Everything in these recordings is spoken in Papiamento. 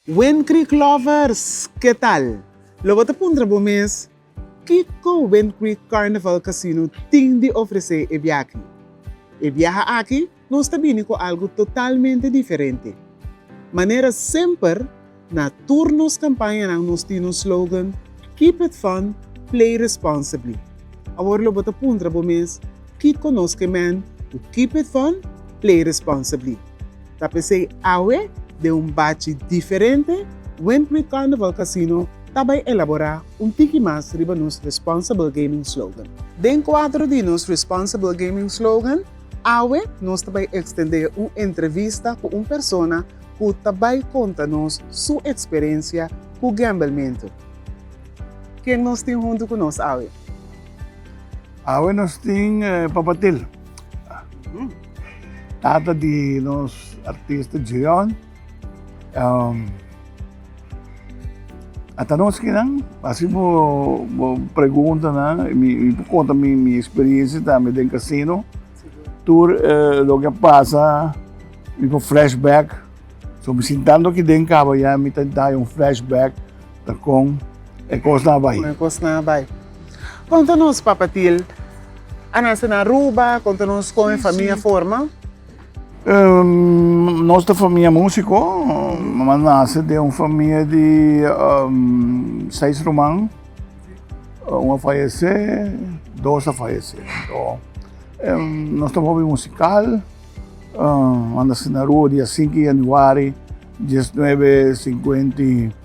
Wind Creek Lovers, ke tal? Lo bo ta puntra bo mes, Kiko Wind Creek Carnival Casino tin di ofresé e biaha? E biaha aki nos ta bini ku algu totalmente diferente. Manera semper, na tur nos kampañanan nos tin un slogan, Keep it fun, play responsibly. Awor lo bo ta puntra bo mes, Kiko nos ke mèn ku Keep it fun, play responsibly? Ta p'esei awe, den un bachi diferente, Windmill Carnival Casino ta bai elaborá un tiki mas riba nos Responsible Gaming Slogan. Den kuadro di nos Responsible Gaming Slogan, awe nos ta bai ekstendé un entrevista ku un persona ku ta bai konta nos su eksperensia ku gambelmentu. Ken nos tin huntu ku nos awe? Awe nos tin Papa Til. Tata di nos artista Djeon um ata no esquinan así bo bo pregunta nan mi mi por conta mi mi experiencia tambe den casino tur uh loke a pasa mi por flashback so mi sintando aki den caba ya mi ta dai un flashback Ta con e cosnan a bai? Con e cosnan a bai. Con ta nos papatil a nace na Aruba? Con ta nos con e famia forma? Um, nos ta famia musico. Mama nace den un famia di um, seis ruman. Un a fallece, dos a fallece. So, um, nos ta hobby musical. Um, a nace na Aruba dia 5 januari 1950.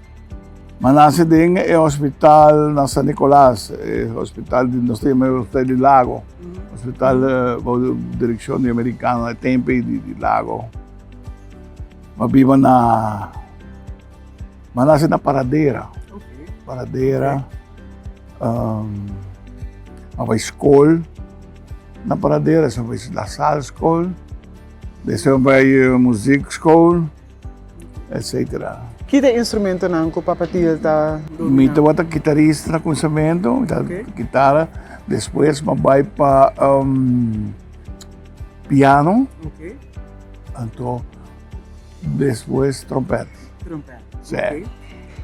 Manase den e hospital na San Nicolas, e hospital di nos tin e hospital di Lago, hospital bou di direkshon di Amerikano e tempe di Lago. Bo biba na manase na Paradera, Paradera a bai skol na Paradera, esei a bai Lasal skol, esei a bai muzik skol. etcetera. Ki ta e instrumentonan ku Papa Thiel ta domina? Mi tabata kitarista na kumisamento, mi ta gitara, despues mi a bai pa piano, anto despues trompet. Trompet. Sí.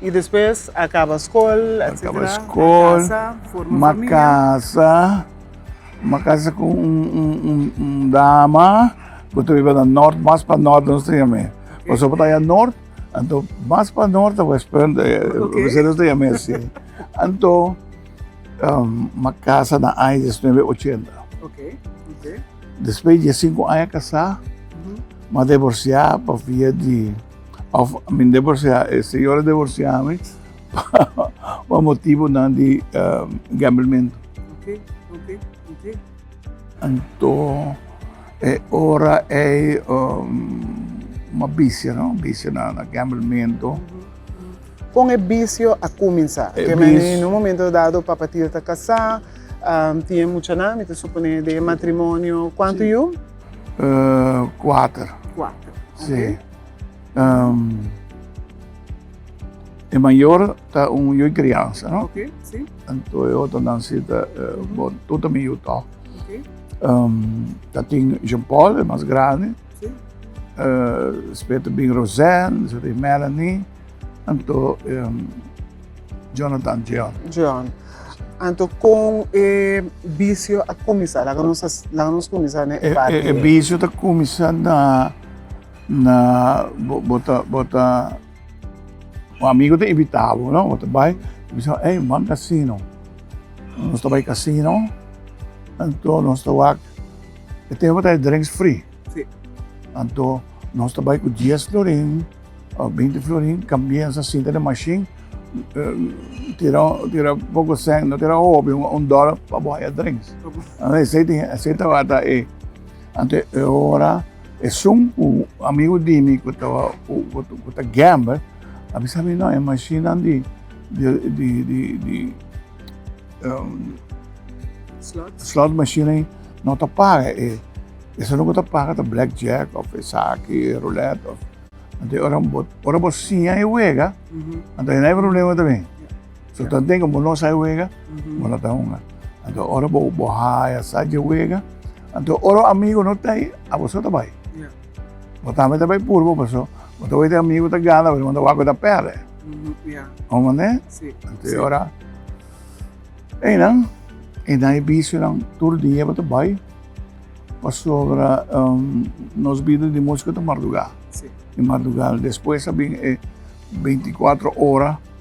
I despues a kaba skol, etcetera, a kasa, forma famia. Mi a kaba skol, mi a kasa. M'a casa cu un dama cu ta biba na Nort, mas pa Nort di nos ta yam'e. Pasobra ta ya Nort, anto mas pa Nort ta wes punt, Mercedes nos ta yam'e si. Anto m'a casa na aña diesnuebe ochenta. Despues di diescinco aña casá m'a devorciá pa via di, of, I mean devorciá, e señora devorciá mi. pa motibonan di gambleman. Oke, oke, oke. Anto e ora ei un bisio no, bisio na gamblementu. Kon e bisio a kuminsá? Ke manera en un momento dado Papa Til ta kasá, tin e muchanan, mi ta suponé den e matrimonio, kuantu yu? Kuater. Kuater, oke. Si. E mayor ta un yu crianza, no? Okay, sí. Anto e otro nan si ta uh, bon, tu ta mi yu toch. Okay. Um, ta tin Jean Paul, e mas grande. Sí. Uh, spet bin Roseanne, spet bin Melanie. Anto um, Jonathan John. John. Anto con e vicio a comisar, la nos, la nos comisar, né? E, e, e vicio ta comisar na Na bo bo ta bo ta un amigo ta invita bo no bo ta bai bo bisa ey ban casino nos ta bai casino anto nos ta wak e tempo ta e drinks free anto nos ta bai cu dies florin o binti florin cambia sa sinta den mashin tira tira poco cent no tira hopi un dollar pa bo haya drinks esey tin esey tabata e anto e ora Esun ku amigu di mi ku ta ku ta gamber a bisa mi, no e mashinnan di slot machine ei no ta paga e esunnan ku ta paga ta black jack of esaki e roulette of. Anto ora bo siña e wega anto no hay problema tambe. So ta den bo no sai wega, bo no ta hunga. Anto ora bo bo haya sa je wega, anto ora amigo no ta ai, a boso ta bai. Bo tambe ta bai purbo paso bo ta wete amigo ta gana paso bo ta wak ta perde. Ora bo ne, anto ora einan e na e visionan tur dia bo ta bai pasobra nos bida di musca ta marduga. Di marduga despues a bin e binti kuatro ora.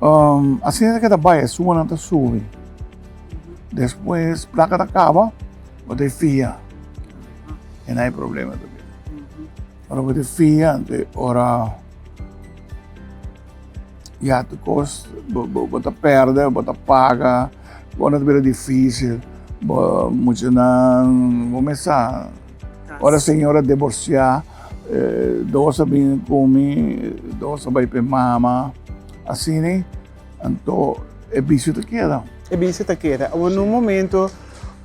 Um, asina ta keda bai, e suanan ta subi. Despues plaka ta kaba, bo te fia. E na e problema tabia. Ora bo te fia, ante ora ya tu kos, bo, bo, bo ta perde, bo ta paga, bo na tabira difisil, bo, muchanan, bo mesa, Ora señor a divorciá, dos a bin cu mi, dos a bai p'e mama, asina, anto e vicio ta keda. E vicio ta keda. Awor n'un momento,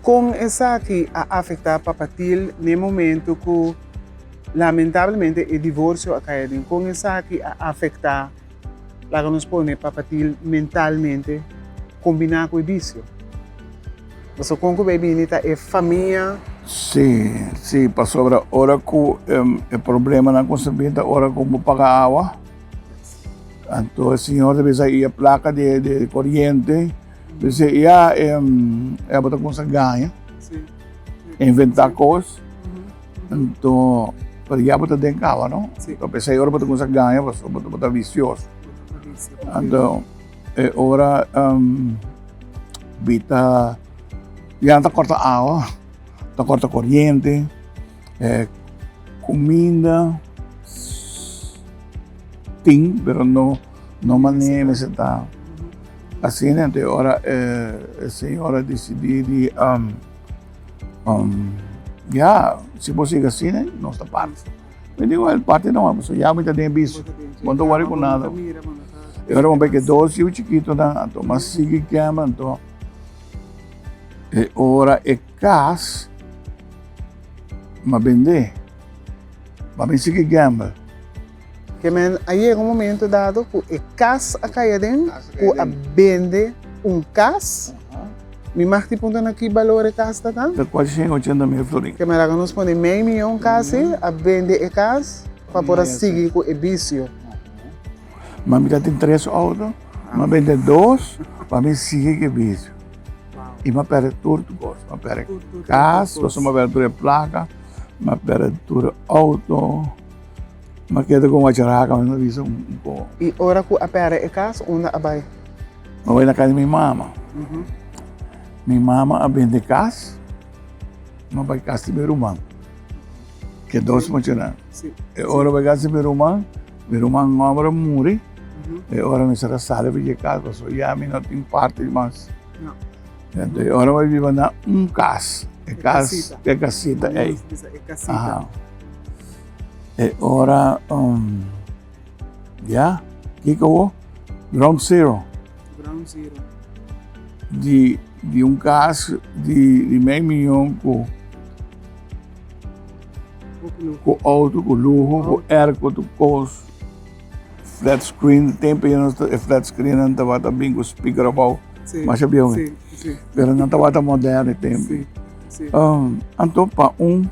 con esaki a afectá Papa Til n'e momento cu lamentablemente e divorcio a caya den? Con esaki a afectá? Laga nos pone e papatil mentalmente combiná cu e bicio. Pasobra con cu bay bini ta e famia. Sí, sí, pasobra ora cu e problemanan con sa bini ta ora cu bo paga awa. Anto e señor ta bisa y e placa di e coriente, bisa y ya, y abo ta cuminsa gaña, inventá cos. Anto, pero ya bo ta den caba, no? Sí. Lo pesa e ora bo ta cuminsa gana, paso bo, bo ta vicioso. Anto, e ora um, bita ya ta corta agua, ta corta corriente, eh, cuminda tin, pero no, no mane mester ta. Asina, anto e ora eh, e señora decidi di um, Um, ya, si bo sigue asina, nos ta panas. Mi digo, el parte no, so ya mi ta den bici. Bo no worry con nada. Y ahora vamos a ver que dos hijos chiquitos, entonces más sigue quema, entonces. E ora e cas, ma vende, ma mi sigue gamble. Te men a yega un momento dado cu e cas a cay aden, cu a bende un cas. Mi mag tin puntra na ki balor e cas ta ta? Ta cuaci cien ochenta mil florin. Te men a laga nos pone mei miyon casi, a bende e cas pa por a sigui cu e bicio. Ma mi ta tin tres auto, mi a bende dos pa mi sigui cu e bicio. Y mi a perde tur cos, mi a perde cas, pasobra mi a perde tur e placa, mi a perde tur e auto. Ma keda kon wacha raka mi no bisa un po. I ora ku a pèrdè e kas, unda a bai? A bai na kas di mi mama. Mi mama a bende kas, a bai kas di mi ruman. Ke dos muchanan. E ora bai kas di mi ruman, mi ruman òmber a muri, e ora mi sa ta sali pi ke kas pasobra ya mi no tin parti mas. Enton e ora bai biba na un kas, e kas, e kasita ei. Aha. E ora um ya kiko bo? Ground zero. Ground zero. Di di un kas di di mei miyon ku ku auto ku luho ku airco tu kos. Flat screen, tempo e nos e flat screen nan tabata bin ku speaker abou. Sí. Masha biehu mi. Sí, sí. Pero nan tabata moderno e tempo. Sí, sí. Um, anto pa un,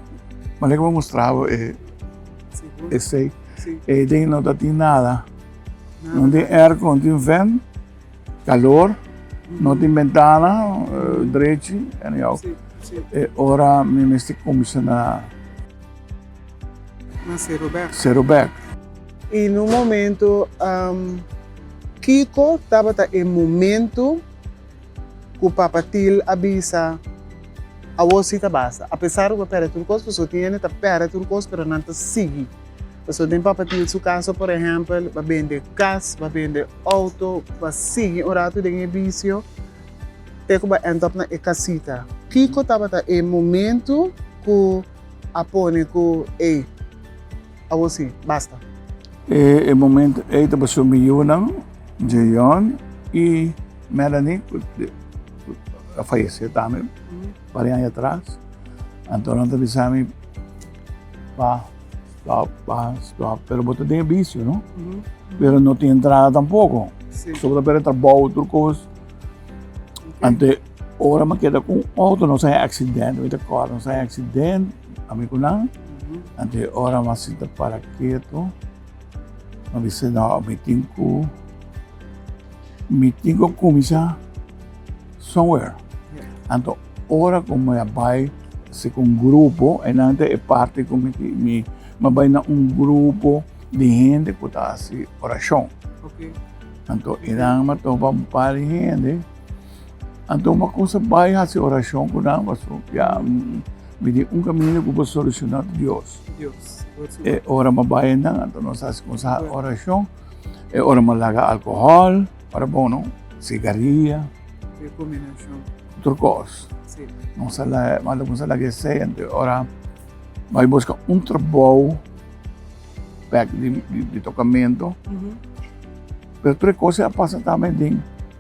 manera que me mostraba e, e sei, sí. e ding no ta tin nada. nada. Non tin aircon, tin vent, calor, mm -hmm. non tin ventana, uh, drechi, anyhow. Sí, sí. E ora mi mesti comisionar. Na Serobek. Serobek. I un momento, um, kiko tabata e momento ku Papa Til a bisa, Awor si ta basta. Apesar ku a pèrdè tur kos, pasobra tin hende ta pèrdè tur kos, pero nan ta sigui. Pasobra den Papa Til su kaso, por ehèmpel, b'a bende kas, b'a bende outo, b'a sigui un ratu den e bisio, te ku b'a end up na e kasita. Kiko tabata e momento ku. a pone cu ey, awor si, basta. E e momento ey ta paso mi yunan, Jeyon y Melanie, cu a fayece tambe par aña atras. Anto nan ta bisa mi, Pa, stop, Pa, stop, pero bo ta den e vicio, no? Pero no tin entrada tampoco. Bo ta pera trabou tur cos. Anto e. Ora mi a keda ku un outo nos a haya aksident, mi ta kòrda nos a haya aksident ami ku nan, anto e ora mi a sinta para ketu, mi a bisa nò mi tin ku mi tin ku kuminsá somewhere. Anto ora ku mi a bai si ku un grupo, einan ta e parti ku mi mi a bai na un grupo di hende ku ta hasi orashon. Anto einan mi a topa un par di hende. Anto un bakusa bai hasi orashon ku nan paso ya mi tin un kaminda ku por solushona ku Dios. E ora mi a bai andan anto nos hasi kumsa orashon. E ora mi a laga alkohòl ora bon no, sigaria, otro kos. Nos a laga, mi a kumsa laga esei anto e ora bai buska un trabou bek di tokamentu. Pero tur e kos ei a pasa tambe den.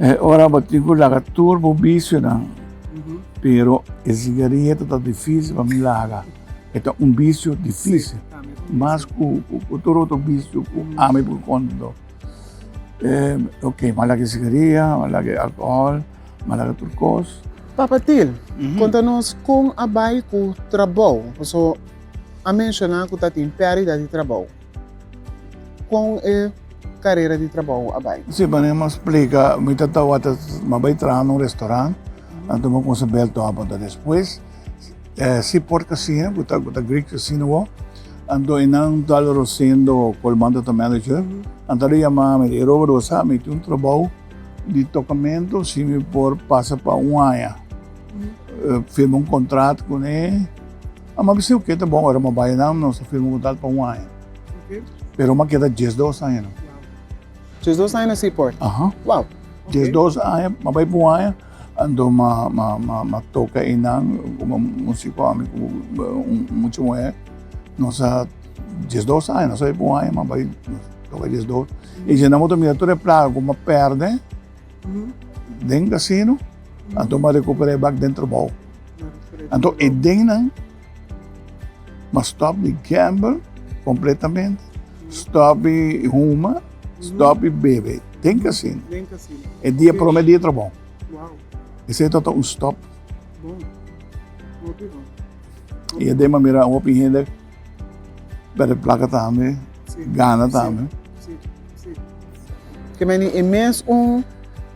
E ora bo tin ku laga tur bo bisionan, pero e sigarieto ta difísil pa mi laga. E ta un bisio difísil, mas ku tur otro bisio ku ami por konto. Oke, mi a laga e sigaria, mi a laga e alkohòl, mi a laga tur kos. Papa Til, konta nos kon a bai ku trabou? Pasobra a menshoná ku ta tin pèrdida di trabou. Kon e karera di trabou a bai? Si manera mas splica mi ta tawata mas bai traha na un restaurant anto mi a cuminsa bel to habada despues si por casina cu ta cu ta greek casina bo anto e nan tal rosendo colmando ta manager nan tal a yama mi ta Robert bo sa mi tin un trabou di tocamento si mi por pasa pa un aña firma un contract cune. A m'a bis'é oké ta bon ora m'a bai nan nos a firma kontratu pa un aña. Pero m'a keda dies dos aña nan. Dies dos aña na Seaport? Aha. Wow. Dies dos aña, m'a bai pa un aña, anto m'a m'a m'a m'a toka einan komo músiko ami ku un mucha muhé. Nos a dies dos aña, nos a bai pa un aña m'a bai nos toka dies dos. I dje nan bo ta mira tur e plaga ku m'a pèrdè. den casino, anto m'a recuperá e bak den trabou. Anto e dennan m'a stòp di gamble completamente, stòp di huma, stòp di bebe den casino. E dia prome dia trabou. Esei tabata un stòp. I aden m'a mira un hopi hende Perde plaka tambe, gana tambe. Ke meni e mes un,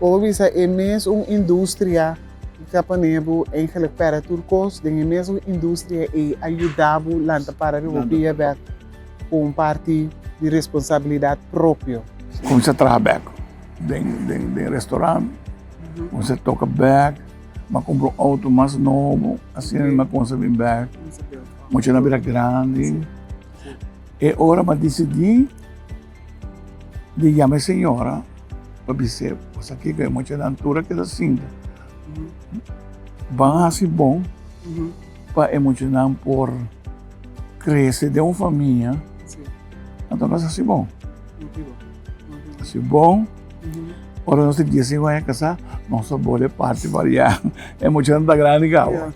bo por bisa e mes un industria di ta pone bo eigenlijk perde tur kos. Den e mes un industria ei a yuda bo lanta para riba bo pia bek ku un parti di responsabilidat propio. Kuminsá traha bek den den den restoran, kuminsá toka bek, m'a kumpra un outo mas nobo, asina riba m'a kuminsá bin bek. Mucha na bira grandi. E ora ma disidí di yama e señora pa bis'é, pa sa kiko e muchanan tur a keda sinta. Ban hasi bon pa e muchanan por krese den un famia, anto nos hasi bon. Hasi bon, ora nos ta giasin waya kasá, nos ta bole parti fariá. E muchanan ta grandi kawa.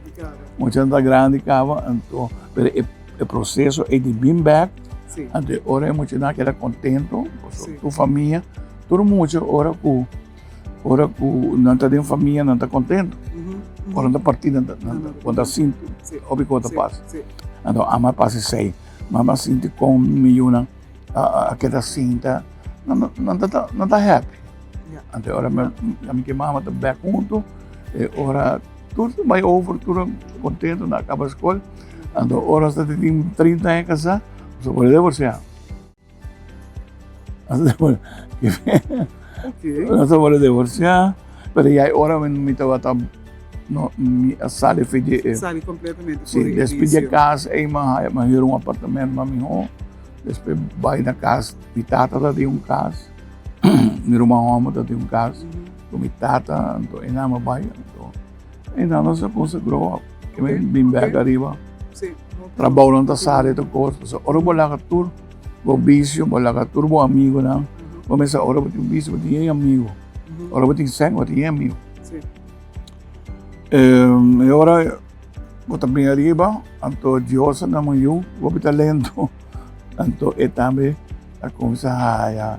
Muchanan ta grandi caba, anto, pero e e proceso ey di bin bek, sí. anto e ora e muchanan keda contento, sí. tu famia, tur mucho ora cu ora cu nan ta den famia nan ta contento, mm -hmm. ora ta parti nan ta, nan ta, con ta sinti, sí. obi con ta sí. pas, sí. anto ama pasi sei, mama sinti con mi yuna a, a, a keda sinta, nan, nan, ta, nan ta happy, yeah. anto ora yeah. mi, mi mama ta bek junto, e ora Tur ta bai over, tur ta kontento, nan a kaba skol. Anto ora asta ta tin trinta aña kasá, nos a por devorsiá. Nos a por devorsiá, pero ya e ora men mi tabata, mi a sali afe di e. Sali kompletamente for e ilisio. Despues di e kas ei mi a haya, mi a hür un apartamento pa mihó. Despues bai na kas, mi tata ta tin un kas, mi ruman hòmber ta tin un kas. Cu mi tata anto e nama bay anto. E nana sa con sa grow up. E mi bin bek ariba. Trabounan ta sa de ta cos. Pasobra ora bo laga tur bo vicio, bo laga tur bo amigonan. Bo mester ora bo tin vicio bo tin yey amigo. Ora bo tin seno bo tin yey amigo. E ora bo ta bin ariba anto Dios a nama yu. Bo a bita lento anto e tambe a cuminsa haya.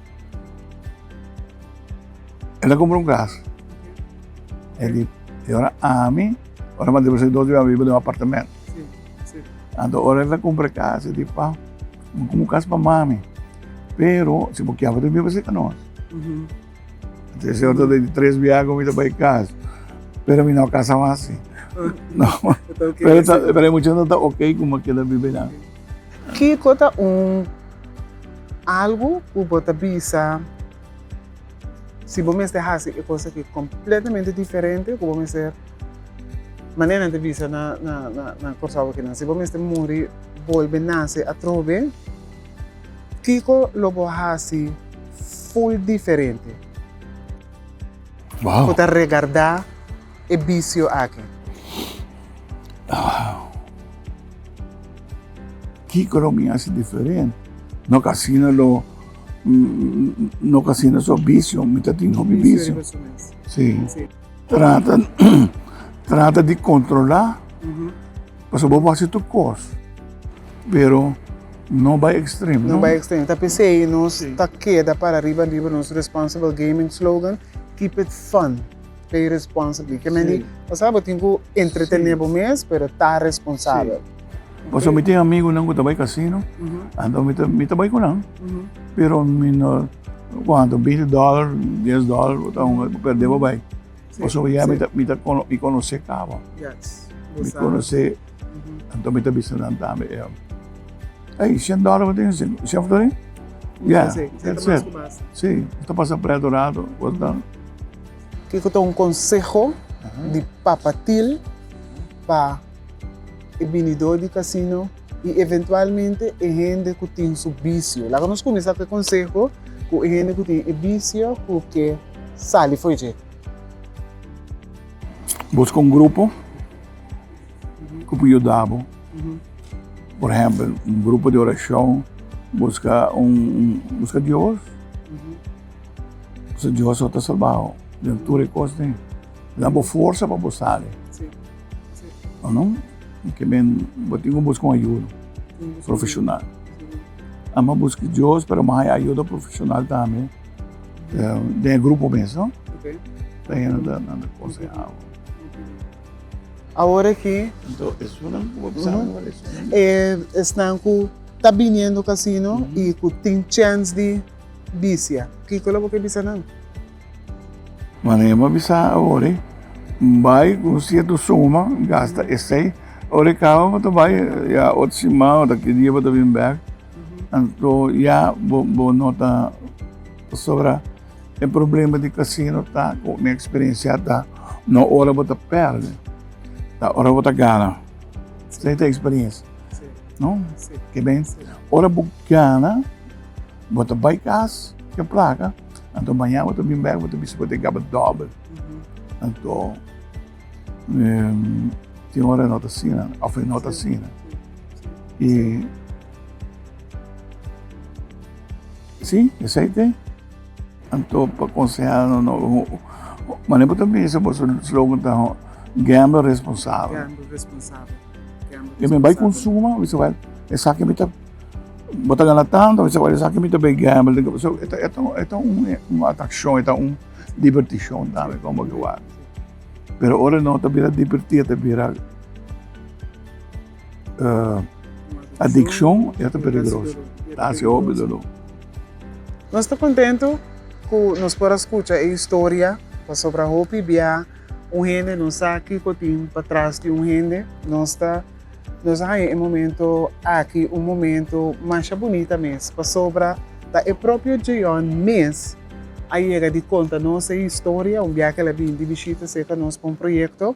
E ta cumpra un cas. E di, y ora ami, ora Maria Mercedes no a biba den un apartamento. Anto ora el ta cumpra e cas, e di, Pa, mi cumpra un cas pa mami, pero si bo kier bo tin bini bisita nos. Anto e señor ta di, Tres biaha cu mi ta bay cas, pero mi no a casa mas. Pero e muchacho no ta oke cu bo a keda biba ahinan. Kiko ta un algu ku bo ta bisa si bo mester hasi e kos aki kompletamente diferente ku bo mester manera nan ta bisa na Kòrsou akinan? Si bo mester muri bolbe nase atrobe, kiko lo bo hasi ful diferente ku ta regardá? e bicio aki? Kico lo mi hasi diferente? No ta asina lo, no ta asina so bicio, mi ta tin hopi bicio. Si. Trata, trata di controla, pasobra bo por hasi tur cos, pero no bay extremo. No bay extremo. Ta p'esey nos ta keda para riba riba nos responsible gaming slogan, keep it fun. Play responsibly. Ke men di, pasá bo tin ku entretené bo mes, pero ta responsabel. Pasobra mi tin amigunan ku ta bai kasino, anto mi ta bai ku nan, pero mi no, kuantu, binti dòler, dies dòler, bo ta ungel, bo pèrdé bo bai. Pasobra ya mi ta, mi ta kono, mi konosé kaba. Mi konosé. Anto mi ta bisa nan tambe, e hombre. Ey, cien dólar bo tin hasi, si of dori? Ya, that's it. Si, bo ta pasa pret un rato, bo ta. Kiko ta un konseho di Papa Til pa e binidó di kasino i eventualmente e hende ku tin su bisio? Laga nos kuminsá ku e konseho ku e hende ku tin e bisio ku ke sali fo'i dje. Buska un grupo. ku por yuda bo. Por ehempel, un grupo di orashon, buska un, buska Dios, pasobra Dios lo ta salba bo den tur e kos den. Lo dabo forsa pa bo sali. O no? Ke men, bo tin ku buska un ayuda profeshonal. Amo buska Dios, pero amo haña ayuda profeshonal tambe den e grupo mes, no? Pasobra nan ta konsehá bo. Awor aki, Anto esunnan ku bo a bisa awor esun. e, esnan ku ta biniendo kasino i ku tin chèns di bisia, kiko lo bo ke bisa nan? Mane e bo a bisa awor, N bai ku un sierto suma, N gasta esei, ora e kaba bo ta bai ya otro siman ota ki dia bo ta bin bèk, anto ya bo no ta sobrá. E problema di casino ta cu mi experiencia ta no ora bo ta perde ta ora bo ta gana esey ta experiencia no ke ben ora bo gana bo ta bay cas ke placa anto maña bo ta bin bek bo ta bisa bo ta gaba doble anto tin ora e no ta asina of e no ta asina y. Sí, esei t'e. Anto pa konsehá no no mané bo ta bisa bo su slogan ta Gamble Responsabel. Gamble Responsabel. Gamble Responsabel. Mi bai konsuma, mi ta wak esaki mi ta bo ta gana tantu, mi ta wak esaki mi ta bai gamble den kaba. So e ta e ta e ta un atrakshon, e ta un dibertishon tambe pa bo ta wak. Pero ora no ta bira dibertí, ta bira. Adikshon ya ta peligroso, ta hasi hopi doló. Nos ta kontentu ku nos por a skucha e historia, pasobra hopi bia un hende no sa kiko tin pa tras di un hende. Nos ta nos a haña e momento aki un momento masha bunita mes, pasobra ta e propio Djeon mes a yega di konta nos e historia, un biakel a bini di bishita serka nos pa un proyekto.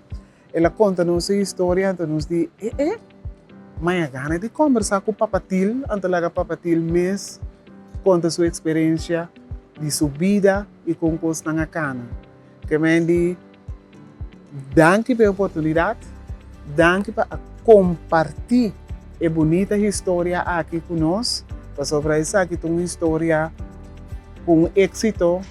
El a konta nos e historia, anto nos di, Eh eh, mai a gana di kombersá ku Papatil, anto laga Papatil mes konta su eksperensia di su bida i kon kosnan a kana. Ke men di, Danki pa e oportunidat, danki pa a kompartí e bunita historia aki ku nos, pasobra esaki ta un historia ku un éksito.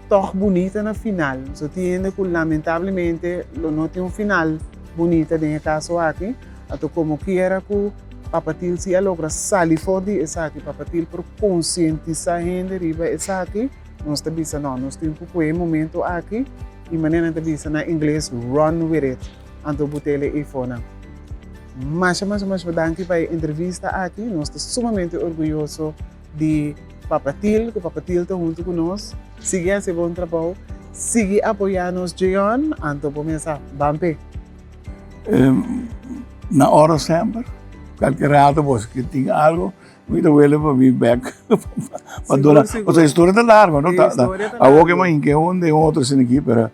Tòg bunita na final. So tin hende ku lamentablemente lo no tin un final bunita den e kaso aki. Anto komokiera ku Papatil si a logra sali for di esaki, Papatil por konsientisá hende riba esaki, nos ta bisa no, nos tin ku kohe momentu aki i manera nan ta bisa na ingles run with it. Anto bo tele Ifona. Masha masha masha danki pa e entrevista aki. Nos ta sumamente orguyoso. di Papa Til cu Papa Til ta hunto cu nos sigui haci bon trabao sigui apoya nos Djeon anto bo mes a ban pe. Na oro semper cualkier rato bo esaki tin algo mi ta wele pa bin bek pa duna pasobra historia ta largo no ta awor ke mahin ke un den otro esaki pero.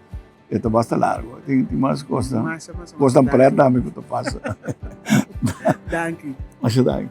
E ta basta largo. Tin tin mas cosnan. Masha masha masha Cosnan danki. pret tambe cu ta pasa. Danki. Masha danki.